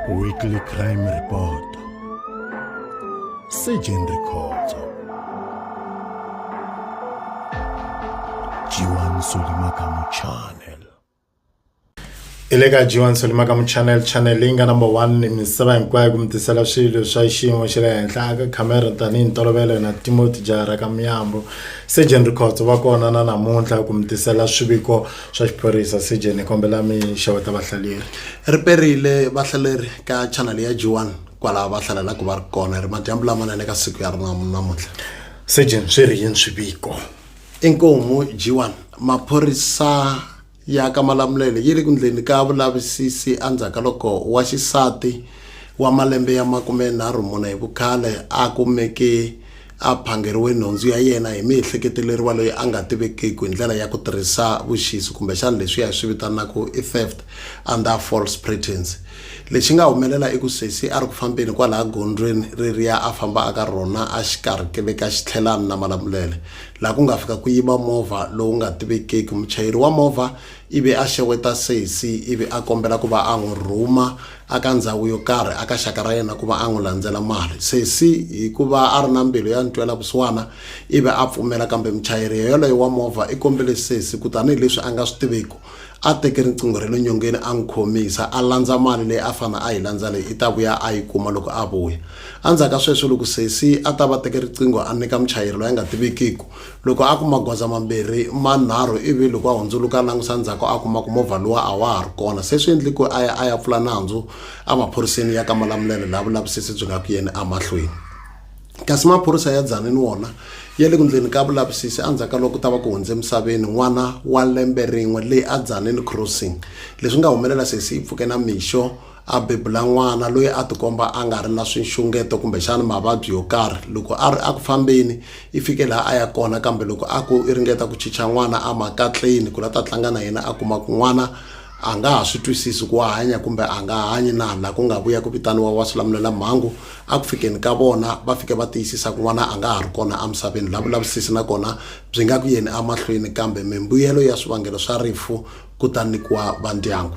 Weekly Crime Report Surgeon Records Jiwan Solimakamu Channel i le ka jiwan solimakamu channel channel leyi nga number one ni misava hinkwayo ku mi tisela swilo swa xiyimo xa le henhla aka khamera tanihi ntolovelo na timoti jahara ka miyambo surgeon records va kona na namuntlha ku mi tisela swiviko swa xiphorisa CJ ni kombela mi xeweta vahlaleri ri perile vahlaleri ka channel ya G1 kwalaho va hlalelaka va ri kona ri madyambu lamanene ka siku ya rona namuntlha CJ swi ri yini swiviko inkomu G1 maphorisa ya ka Malamulele yi ri ku ndleni ka vulavisisi endzhaku ka loko wa xisati wa malembe ya makume nharhu mune hi vukhale a kumeke a phangeriwe nhundzu ya yena hi miehleketeleriwa loyi a nga tivekiki hi ndlela ya ku tirhisa vuxisi kumbexana leswiya hi swi vitanaka i theft under false pretense lexi nga humelela i ku sesi a ri ku fambeni kwalaha gondzweni reriya a famba aka rona a xikarhi ke ve ka xitlhelani na malamulele laha ku nga fika ku yiva movha lowu nga tivekiki muchayeri wa movha ivi a xeweta sesi ivi a kombela ku va a n'wi rhuma aka ndzhawu yo karhi aka xaka ra yena kuva an'wi landzela mali. Sesi hikuva ari na mbilu ya ntwela vusiwana ivi apfumela kambe muchayeri yoleyo wa movha ikombele sesi ku tanihi leswi anga swi tiviku ateke riqingho rale nyongeni an'wi khomisa alandza mali leyi afana ayi landza leyi ita vuya ayi kuma loko avuya. Andzhaka sweswo loko sesi atava teke riqingho anika muchayeri loyi anga tivikiku Loko a ku magoza mambirhi manharhu ivi loko a hundzuluka a langusa ndzhaku a kuma ku movha luwa a wa ha ri kona se swi endli ku a ya a ya pfula nandzu emaphoriseni ya ka Malamulele laha vulavisisi byi nga ku yeni emahlweni kasi maphorisa ya Dzanini wona ya le ku ndleni ka vulavisisi endzhaku ka loko ku ta va ku hundze emisaveni n'wana wa lembe rin'we leyi a Dzanini Crossing leswi nga humelela sesi yi pfuke na mixo A bebula n'wana loyi a tikomba a nga ri na swinxungeto kumbexana mavabyi yo karhi. Loko a ri eku fambeni, i fike laha a ya kona, kambe loko a ku i ringeta ku chicha n'wana emakatleni ku la ta tlanga na yena, a kuma ku n'wana a nga ha swi twisisi ku wa hanya kumbe a nga hanyi na, la ku nga vuya ku vitaniwa vaswilamulela-mhangu. Eku fikeni ka vona, va fike va tiyisisa ku n'wana a nga ha ri kona emisaveni, la vulavisisi na kona byi nga ku yeni emahlweni, kambe mimbuyelo ya swivangelo swa rifu, kutani nyikiwa va ndyangu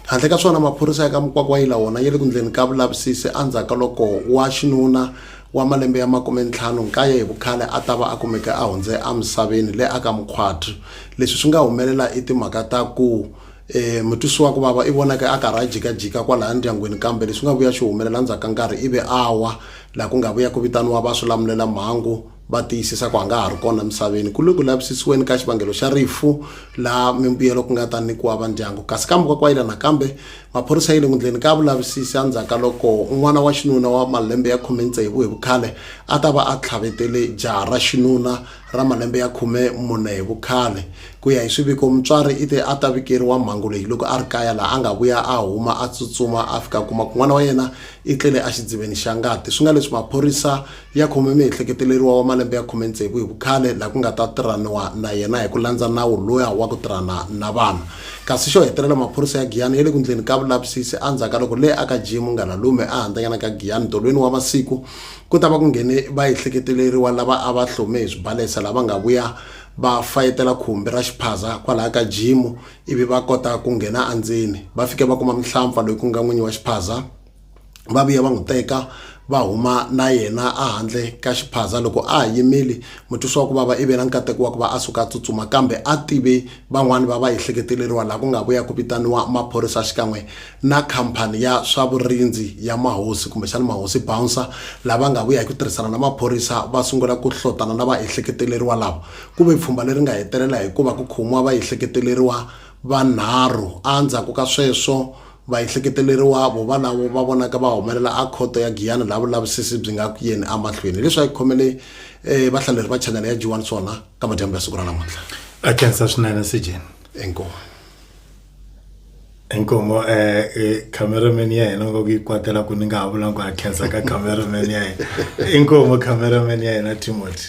handle ka swona maphorisa ya ka mukwakwa yi lawona ya le ku ndleni ka vulavisisi endzhaku ka loko wa xinuna wa malembe ya makume ntlhanu nkaye hi vukhale a ta va a kumeke a hundze emisaveni le aka mukhwati leswi swi nga humelela i timhaka ta ku um mutwisiwa ku vava i vonake a karhi a jikajika kwalaya ndyangwini kambe leswi nga vuya swi humelela ndzhaku ka nkarhi ivi a wa laha ku nga vuya ku vitaniwa va swi lamulela mhangu va tiyisisa ku a nga ha ri kona emisaveni ku le ku lavisisiweni ka xivangelo xa rifu laha mimbuyelo ku nga ta nyikiwa va ndyangu kasi kambe ka kwayila nakambe maphorisa yi le nghundleni ka vulavisisi endzhaku ka loko n'wana wa xinuna wa malembe ya khume tsevu hi vukhale a ta va a tlhavetele jaha ra xinuna ra malembe ya khume mune hi vukhale ku ya hi swiviko mutswari i te a ta vikeriwa mhangu leyi loko a ri kaya laha a nga vuya a huma a tsutsuma a fika kuma ku n'wana wa yena i tlele exidziveni xa ngati swi nga leswi maphorisa ya khome miehleketeleriwa wa malembe ya khume tsevu hi vukhale laha ku nga ta tirhaniwa na yena hi ku landza nawu loya wa ku tirhana na vanhu kasi xo hetelela maphorisa ya giyani ya le ku ndleni ka vulavisisi endzhaku ka loko le aka jimu nganalume a handzanyana ka giyani tolweni wa masiku ku ta va ku nghene vaehleketeleriwa lava a va hlome hi swibalesa lava nga vuya va fayetela khumbi ra xiphaza kwalaha ka jimu ivi va kota ku nghena endzeni va fike va kuma mihlampfa loyi ku nga n'winyi wa xiphaza va vuya va n'wi teka va huma na yena ehandle ka xiphaza loko a ha yimile mutwisi wa ku vava i ve na nkateko wa ku va a suka a tsutsuma kambe a tive van'wani va va ehleketeleriwa laha ku nga ku ya ku vitaniwa maphorisa xikan'we na khampani ya swa vurindzi ya mahosi kumbexana mahosi bouncer lava nga vuya hi ku tirhisana na maphorisa va sungula ku hlotana na va ehleketeleriwa lava ku ve pfhumba leri nga hetelela hikuva ku khomiwa va ehleketeleriwa vanharhu a ndzhaku ka sweswo Vaehleketeleriwavo valavo va vonaka va humelela a khoto ya Giyani laha vulavisisi byi nga ku yeni amahlweni. Hileswi a yi khomele vahlaleri va chanele ya G1 swona ka madyambu ya siku ra namuntlha. A khensa swinene Sejeni. Inkomu. Inkomu cameraman ya hina nga ku yi kwatela ku ni nga ha vulangi ku a khensa ka cameraman ya hina. Inkomu cameraman ya hina Timothy.